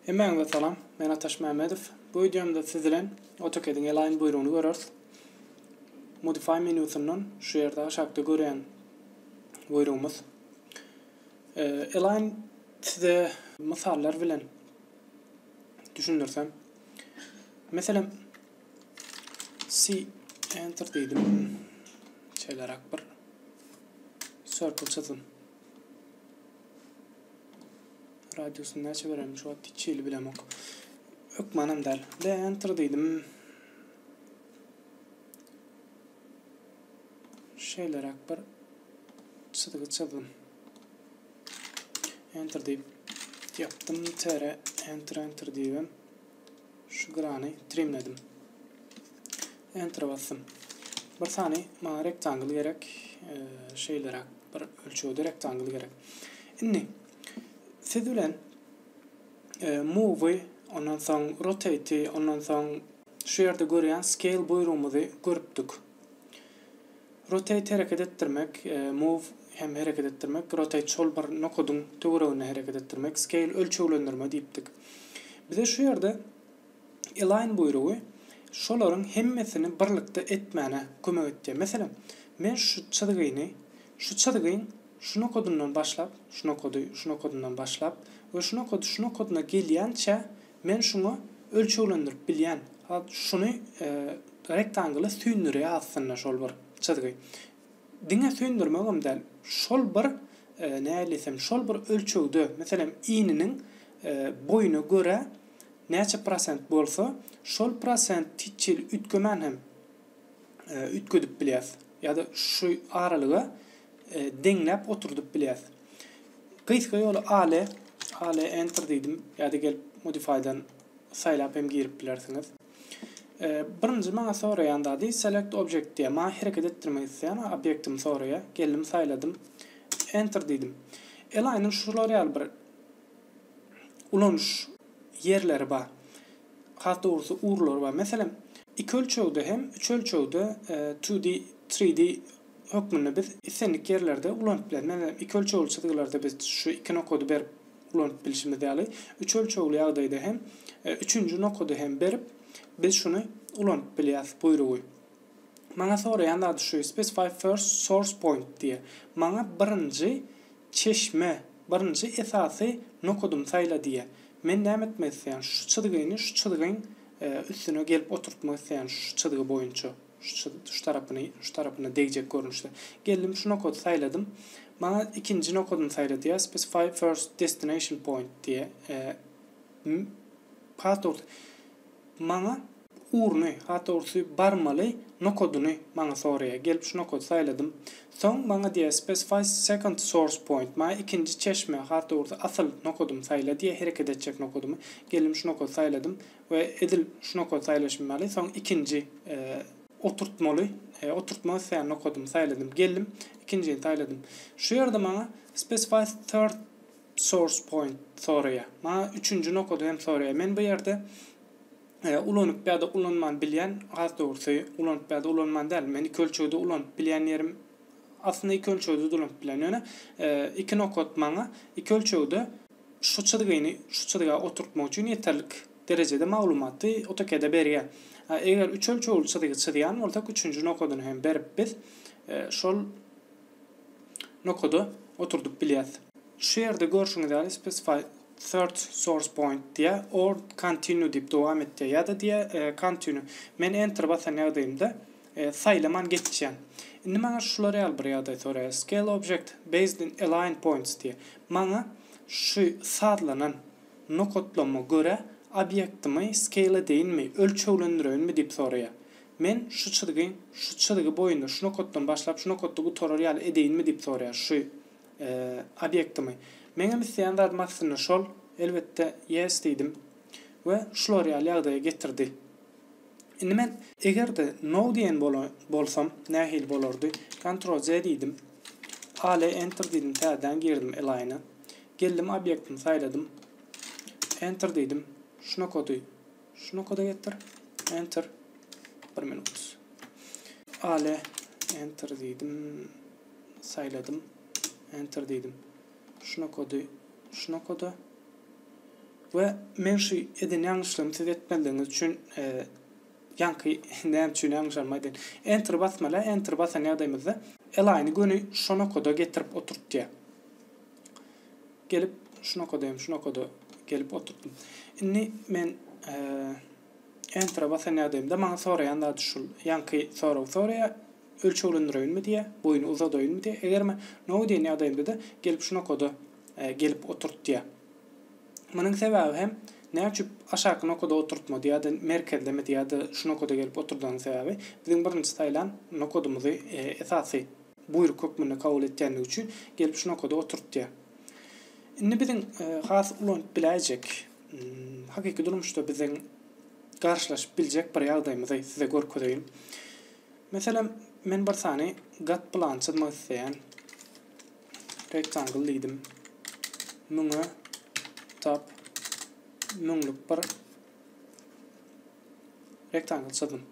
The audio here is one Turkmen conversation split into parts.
Hemmäňize salam, men Ataş Mämmedow. Bu wideomda siz bilen AutoCAD-iň Align buýrugyny göreris. Modify menýusyndan şu ýerde aşakda görýän buýrugymyz. Align size mysallar bilen düşündirsem. Meselem, C enter diýdim. Şeýleräk bir circle çyzdym. Radiusyny näçe berelim? Şu wagt hiç hili bilemok. Hökmanam däl. D enter diýdim. Şeýleräk bir çyzgy çyzdym. Enter diýip yaptım. Tere enter enter diýdim. Şu grany trimledim. Enter basdym. Bir sany maňa rektangl gerek. E, şeýleräk bir ölçegde rektangl gerek. Indi siz bilen e, move ondan soň rotate ondan soň şu ýerde görýän scale buýrugymyzy görüpdik. Rotate hereket etdirmek, Move hem hereket etdirmek, Rotate şol bir nokadyň töwereginde hereket etdirmek, Scale ölçeglendirme diýipdik. Bize şu ýerde Align buýrugy şolaryň hemmesini birlikde etmäne kömek etýär. Meselem, men şu çyzgyny şu çyzgyň şu nokadyndan başlap, şu nokady şu nokadyndan başlap we şu nokady şu nokadyna gelýänçä Men şuňa ölçeglendirip bilýän. Hat şuny rektangly süýndürýä aslynda şol bir çyzgy. Diňe süýndürmegem däl, şol bir nähili diýsem şol bir ölçegde meselem ininiň boýuna görä näçe prosent bolsa şol prosent hiç hili üýtgemän hem e, üýtgedip bilýäs ýa-da şu aralyga e, deňläp oturdyp bilýäs. Gysga ýoly ale, ale enter diýdim ýa-da gelip modifydan saýlap hem girip bilersiňiz. E, birinji maňa soraýan zady select object diýýär. Maňa hereket etdirmek isleýän obýektimi soraýar. Geldim saýladym. Enter diýdim. Elaýnyň şular ýaly bir ulanyş ýerleri bar. Has dogrusy ugurlary bar. Meselem, iki ölçegde hem üç ölçegde, two D, three D, hökmünde biz islendik ýerlerde ulanyp bileris. Meselem, iki ölçegli çyzgylarda biz şu iki nokady berip ulanyp bilşimiz ýaly, üç ölçegli ýagdaýda hem üçünji nokady hem berip biz şuny ulanyp bilýäris buýrugy. Maňa soraýan zady şu, specify first source point diýýä. Maňa birinji çeşme, birinji esasy nokadymy saýla diýýä. Men näme etmek isleýän? Şu çyzgyny şu çyzgyň üstüne gelip oturtmak isleýän şu çyzgy boýunça. Şu tarapyny şu tarapyna degjek görnüşde. Geldim şu nokady saýladym. Maňa ikinji nokadymy saýla diýýä. Specify first destination point diýýä. Path orta. Maňa Urny, hat ursy barmaly nokodyny maňa soraýa. Gelip şu nokody saýladym. Soň maňa diýýä specify second source point, maňa ikinji çeşme, hat ursy, asyl nokodymy saýla diýýä, hereket etjek nokodymy. Geldim şu nokody saýladym we edil şu nokody saýlaşym ýaly soň ikinji oturtmaly, oturtmak isleýän nokodymy saýladym. Geldim ikinjini saýladym. Şu ýerde maňa specify third source point soraýa. Maňa üçünji nokody hem soraýa. Men bu ýerde. Ulanyp ýa-da ulanman bilýän, has dogrusy, ulanyp ýa-da ulanman däl, men iki ölçegde ulanyp bilýän ýerim, aslynda iki ölçegde-de ulanyp bilýän, ýöne iki nokat maňa iki ölçegde şu çyzgyny şu çyzga oturtmak üçin ýeterlik derejede maglumaty AutoCAD-e berýär. Eger üç ölçegli çyzgy çyzýan bolsak, üçünji nokadyny hem berip biz şol nokada oturdyp bilýäs. Şu ýerde görşüňiz ýaly specify third source point diýýär, or continue diýip dowam et diýýär, ýa-da diýýär continue. Men enter basan ýagdaýymda saýlaman geçýän. Indi maňa şular ýaly bir ýagdaý soraýar, scale object based in align points diýýär. Maňa şu sazlanan nokatlama görä obýektimi scale edeýinmi, ölçeglendirewinmi diýip soraýar. Men şu çyzgy, şu çyzgy boýunda, şu nokatdan başlap, şu nokatda gutarar ýaly edeýinmi diýip soraýar şu obýektimi. Meňem isleýän zadym aslynda şol. Elbetde, Yes diýdim we şular ýaly ýagdaýa getirdi. Indi men. Eger-de No diýen bolsam, nähili bolardy? Ctrl C diýdim. Alt Enter diýdim, täzeden girdim Align-a. Geldim obýektimi saýladym. Enter diýdim. Şu nokady Şu nokada getir. Enter. Bir minut. Ale. Enter diýdim. Saýladym. Enter diýdim. Şu nokady. Şu nokada. Ve men şu eden ýalňyşlygymy siz etmezligiňiz üçin e, ýaňky näme üçin ýalňyşanym aýdaýyn. Enter basmaly, enter basan ýagdaýymyzda Align-y göni şu nokada getirip oturtýar. Gelip şunakadaýam şunakada gelip oturtdym. Indi men Enter-e basan ýagdaýymda maňa soraýan zady şul, ýaňky soragy soraýar, ölçeglendireýinmi diýýär, boýuny uzadaýynmy diýýär, eger men No diýen ýagdaýymda-da gelip şunakada gelip oturt diýýär. Munuň sebäbi hem näçüp aşaky nokada oturtmady ýa-da merkezlemedi ýa-da şunakada gelip oturdagynyň sebäbi biziň birinji saýlan nokadymyzy esasy Buýruk hökmünde kabul etýändigi üçin gelip şu nokada oturtýar. Indi biziň has ulanyp biläýjek, hakyky durmuşda biziň garşylaşyp biljek bir ýagdaýymyzy size görkezeýin. Meselem, men bir sany gat plany çyzmak isleýän. Rectangle diýdim. Müňe tap müňlük bir Rektangl çyzdym.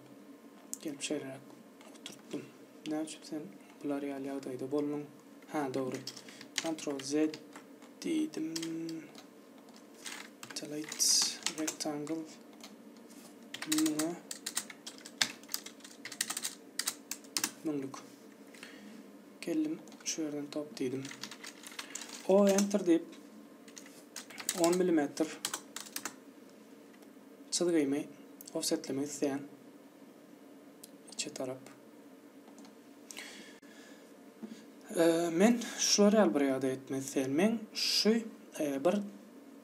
Gelip şeýleräk oturtdym. Näme üçin sen bular ýaly ýagdaýda bolduň? Ha, dogry. Ctrl Z diýdim. Delete rectangle. Muňa müňlük. Geldim, şu ýerden top diýdim. O enter diýip 10 mm çyzgymy ofsetlemek isleýän içe tarap. Men şular ýaly bir ýagdaý etmek isleýän. Men şu bir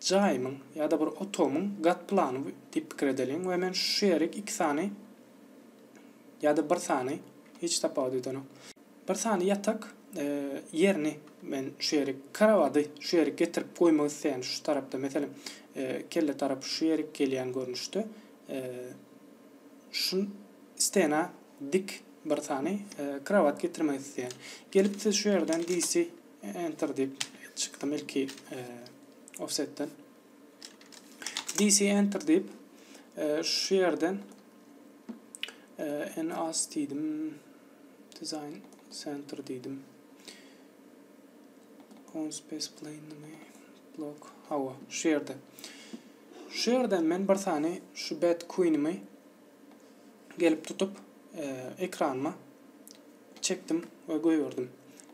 jaýymyň ýa-da bir otagymyň gat plany diýip pikir edeliň we men şu ýeri iki sany ýa-da bir sany hiç tapawut edenok. Bir sany ýatak ýerini men şu ýerik krowady şu ýerik getirip goýmak isleýän şu tarapda meselem kelle tarapy şu ýerik gelýän görnüşde şu stena dik bir sany krowat getirmek isleýän. Gelip siz şu ýerden DC enter diýip çykdym ilki offsetden. DC enter diýip şu ýerden en az diýdim Design Center diýdim. Conspace Plainly Block. Hawa, şu ýerde. Şu ýerden men bir sany şu Bad Queen-imi gelip tutup, e, ekranyma çekdim we goýberdim.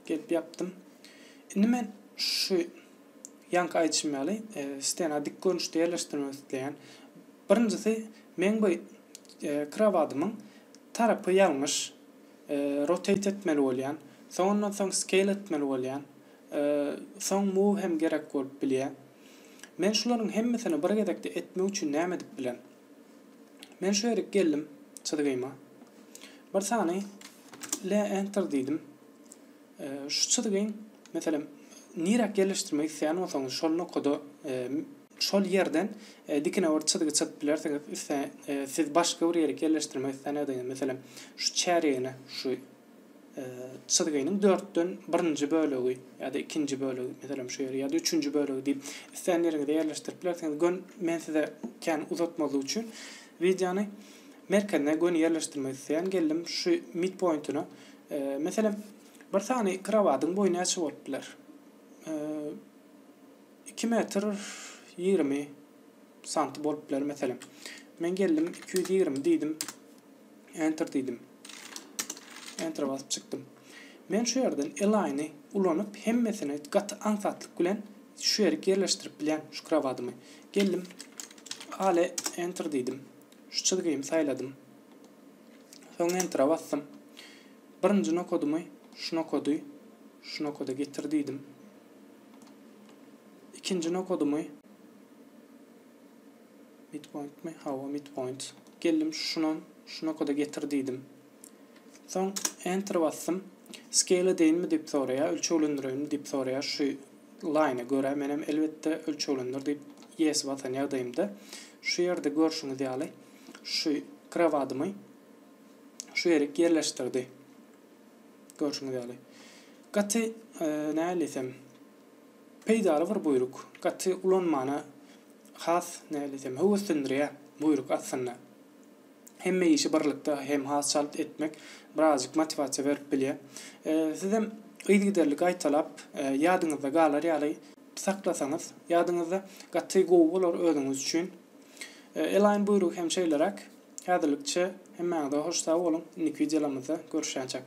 Gelip ýapdym. Indi men şu ýanky aýdyşym ýaly, e, stena dik görnüşde ýerleşdirmek isleýän. Birinjisi men bu Krowadymyň tarapy ýalňyş, rotate etmeli bolýan, soň ondan soň scale etmeli bolýan, soň move hem gerek bolup bilýä. Men şularyň hemmesini bir gezekde etmek üçin näme edip bilen? Men şu ýerik geldim çyzgyma. Bir sany le enter diýdim. Şu çyzgyň meselem niräk ýerleşdirmek isleýän bolsaňyz şol nokada Şol ýerden dikine bir çyzgy çyzyp bilersiňiz. Üstüne siz başga bir ýerik ýerleşdirmek isläniňizde, meselem, şu çärýegine şu çyzgynyň dörtden birinji bölegi ýa-da ikinji bölegi, meselem, şu ýeri ýa-da üçünji bölegi diýip, islän ýeriňize ýerleşdirip bilersiňiz. Gön, men size kän uzatmazlyk üçin wideony merkezine göni ýerleşdirmek isleýän. Geldim şu midpointine. Meselem, bir sany krowadyň boýy näçe bolup biler? Iki metr ýigrimi santy bolup biler meselem. Men geldim iki ýüz ýigrimi diýdim. Enter diýdim. Enter basyp çykdym. Men şu ýerden L-line ulanyp hemmesini gaty aňsatlyk bilen şu ýerik ýerleşdirip bilýän şu krowadymy. Geldim. Ale enter diýdim. Şu çyzgymy saýladym. Soň enter basdym. Birinji nokadymy şu nokady şu nokada getir diýdim. Ikinji nokadymy? Midpointmi? Hawa, midpoint. Geldim şuna, şu nokada getir diýdim. Soň enter basdym. Scale edeýinmi diýip soraýar, ölçeglendireýinmi diýip soraýar. Şu line görä men hem elbetde ölçeglendir diýip yes basan ýagdaýymda. Şu ýerde görşüňiz ýaly şu krowadymy şu ýerik ýerleşdirdi. Görşüňiz ýaly, gaty, nähili diýsem, peýdaly bir buýruk. Gaty ulanmana has, nähili diýsem, höweslendirýär buýruk aslynda. Hemme işi birlikde hem has çalt etmek birazjyk motiwasiýa berip bilýär. Sizem yzygiderli gaýtalap, ýadyňyzda galar ýaly saklasaňyz, ýadyňyzda gaty gowy bolar özüňiz üçin. Elaýyn buýrugy hem şeýleräk. Häzirlikçe hemmäňize hoş sag boluň indiki wideolarymyzda görüşýänçäk.